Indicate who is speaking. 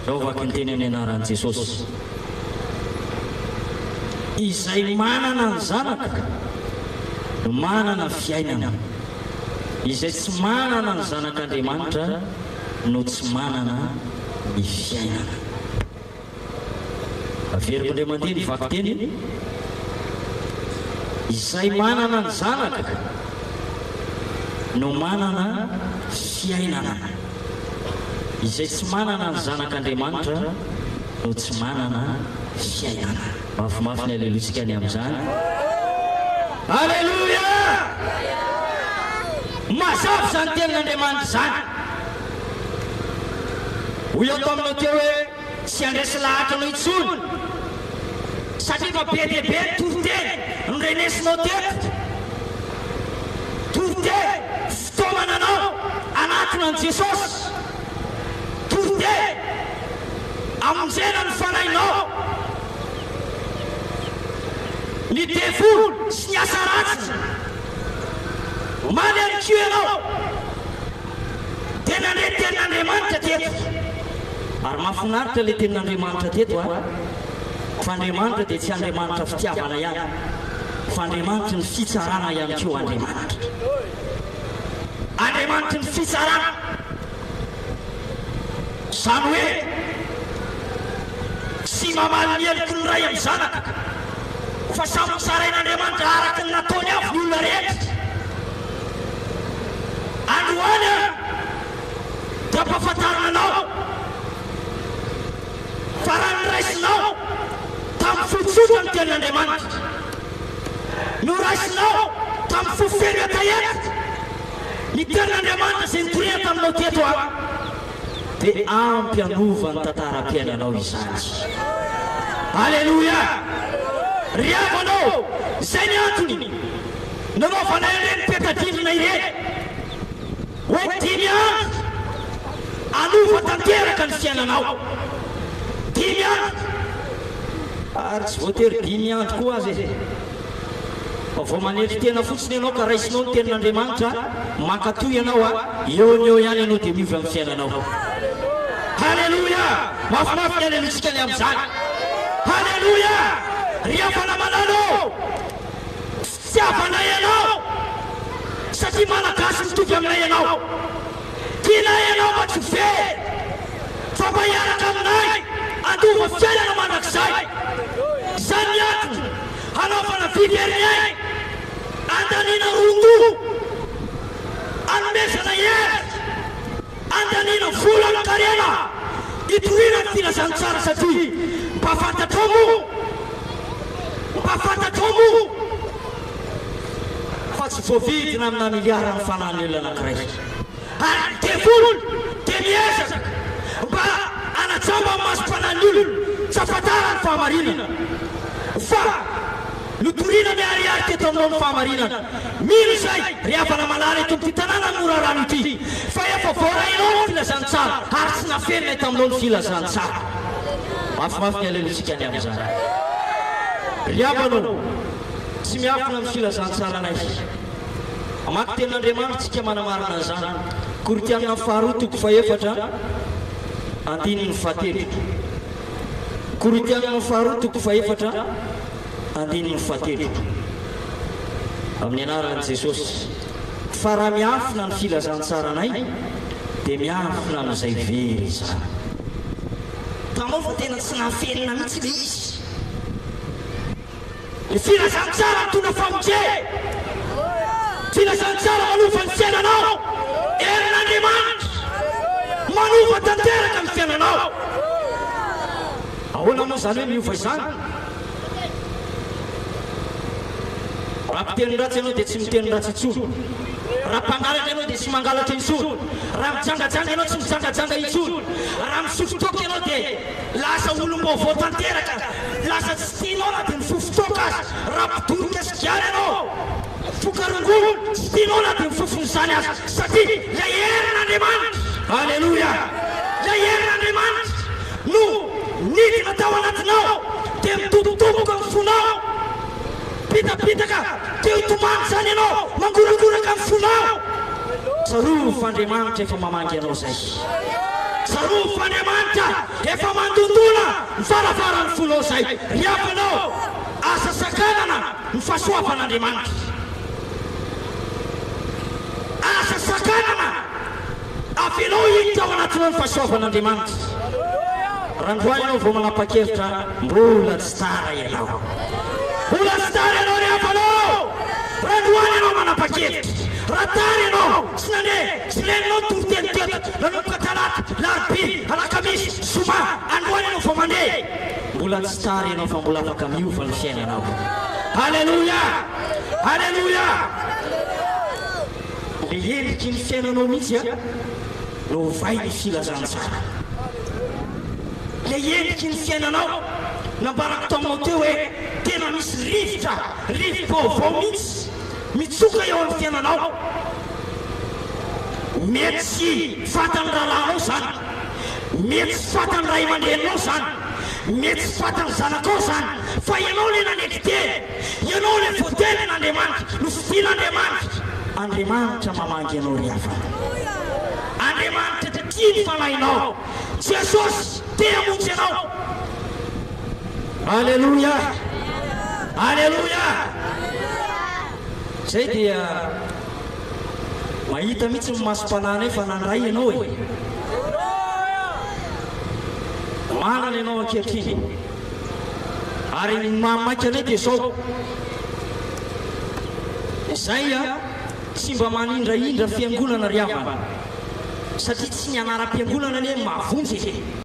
Speaker 1: Izao vakinteny amin'ny anaran'i Jesosy. Izay manana ny Zanaka no manana fiainana. Izay tsy manana ny Zanak'Andriamanitra no tsy manana ny fiainana. Averiko indray mandeha ny vakiteny. Izay manana ny Zanaka no manana fiainana. Izay tsy manana ny Zanak'Andriamanitra no tsy manana fiainana. Mafimafy ny Aleloiantsika ny amin'izany. Aleloia! Mazava izany Tenin'Andriamanitra izany. Hoy aho taminao teo hoe tsy handresy lahatra anao intsony, satria efa be dia be ny toriteny norenesinao teto. Toriteny. Taomana anao anatiny an'i Jesosy, Tote, amonjena ny fanahinao, ny devoly sy ny asa ratsiny, omaly ihany koa ianao dia nandre tenin'Andriamanitra teto, ary mahafinaritra ilay tenin'Andriamanitra teto a, fa Andriamanitra dia tsy Andriamanitra fitiavana ihany fa Andriamanitry ny fitsarana ihany koa Andriamanitra. Andriamanitry ny fitsarana, izany hoe tsy mamaly ny heloky ny ray amin'ny zanaka, fa samy mitsarain'Andriamanitra araka ny nataony avy ny olona rehetra. Androany aho dia ampahafantarina anao fa raha noraisinao tamin'ny fotsotra ny tenin'Andriamanitra, Noraisinao tamin'ny fo feno hetaheta ny tenin'Andriamanitra izay nikorihana taminao teto aho. Dia ampy hanova ny tantaram-piainanao izany. Aleloia! Ry havanao, izay ny antony nanaovanay an'ireny peta-drindrina ireny. Hoe dimy andro hanova tanteraka ny fiainanao. Dimy andro. Ary tsy voatery dimy andro koa aza e. Fa vao manetry tena fotsiny ianao ka raisinao ny tenin'Andriamanitra, mankatò ianao a, eo no eo ihany ianao dia miova amin'ny fiainanao. Haleloia! Mafimafy ny halelointsika ny amin'izany. Haleloia! Ry havana malala ô! Fitiavanay anao satria malagasy mitovy aminay ianao. Tianay ianao mba tsy ho very fa mba hiaraka aminay handova fiainana mandrakizay. Izany ny antony hanaovana vy very aigny andaniana roa-ko hanomezana hery. Andaniana vola amin-karena itoriana ny filazantsara satria mba fantatrao moa, mba fantatrao moa fa tsy voavidina amina miliara ny fanan'ny olona anankiray. Ary ny devoly dia miezaka mba hanajamba ny masom-panan'ny olona tsy ahafantarany fahamarinana fa. Notorina miharihary teto aminao ny fahamarinana. Mino izay, ry havana manara eto amin'ity tanàna norarano ity, fa efa voarainao ny filazantsara ary tsy nafenina eto aminao ny filazantsara. Mafimafy ny haleloantsika ny amin'izany. Ry havana ô, tsy miafina amin'ny filazantsaranay. Mamaky Tenin'Andriamanitra isika manamarina an'izany. Korintiana Faharoa toko fahefatra, andininy fahatelo. Korintiana Faharoa toko fahefatra. andininy fahatelo. Amin'ny anaran'i Jesosy. Fa raha miafina ny filazantsaranay dia miafina amin'izay very izany. Hitanao fa tena tsy nahaferina mihitsy ilay izy. Ny filazantsara mitondra famonjena. Filazantsara manova ny fiainanao. Herin'Andriamanitra manova tanteraka ny fiainanao. Ahoana moa izany hoe miova izany? Raha miteny ratsy ianao dia tsy miteny ratsy intsony. Raha mpangalatra ianao dia tsy mangalatra intsony. Raha mijangajanga ianao tsy mijangajanga intsony. Raha misotro toaka ianao dia lasa olom-baovao tanteraka. Lasa tsy tianao na dia mifofo toaka aza. Raha mpidoroka sigara ianao, mpifoka rongony, tsy tianao na dia mifofo an'izany aza. Satria ilay herin'Andriamanitra. Aleloia! Ilay herin'Andriamanitra. No nidina tao anatinao dia midobodoboka ny fonao, bitabitaka dia hitomany izany ianao, mangorangoraka ny fonao. Tsarovy fa Andriamanitra efa mamangy anao izay. Tsarovy fa Andriamanitra efa mandondona ny varavaran'ny fonao izay. Ry havanao, aza sakanana ny fahasoavan'Andriamanitra. Aza sakanana. Avelao hiditra ao anatinao ny fahasoavan'Andriamanitra. Randroa ianao vao manapa-kevitra, mbola tsy tara ianao. Mbola tsy tara ianao ry havana ô! Randroany ianao manapa-kevitra. Raha tara ianao, tsy nandeha, tsy renao ny toriteny teto, nanomboka talata, larobia, alakamisy, zoma, androany ianao vao mandeha. Mbola tsy tara ianao fa mbola afaka miova ny fiainanao. Aleloia! Aleloia! Ny endriky ny fiainanao mihitsy no ovay ny filazantsara. Ilay endriky ny fiainanao, nambarako taminao teo hoe tena misy rivotra, rivo-baovao mihitsy mitsoka eo amin'ny fiainanao. Mety tsy fantan'ny rahalahinao izany, mety tsy fantan'ny ray aman-dreninao izany, mety tsy fantan'ny zanakao izany, fa ianao ilay nanetry tena. Ianao ilay voatenin' Andriamanitra, nofidin' Andriamanitra. Andriamanitra mamangy anao ry havana. Andriamanitra te tia ny fanahinao. Jesosy te hamonjy anao. Aleloia! Aleloia! Izay dia mahita mihitsy ny masom-panahinay fa nandray ianao e. Manana ianao ankehitriny. Ary ny maha maika anay dia izao, izay a, tsy mba manindrahindra fiangonana ry havana, satria tsy ny anaram-piangonana anie no mahavonjy e!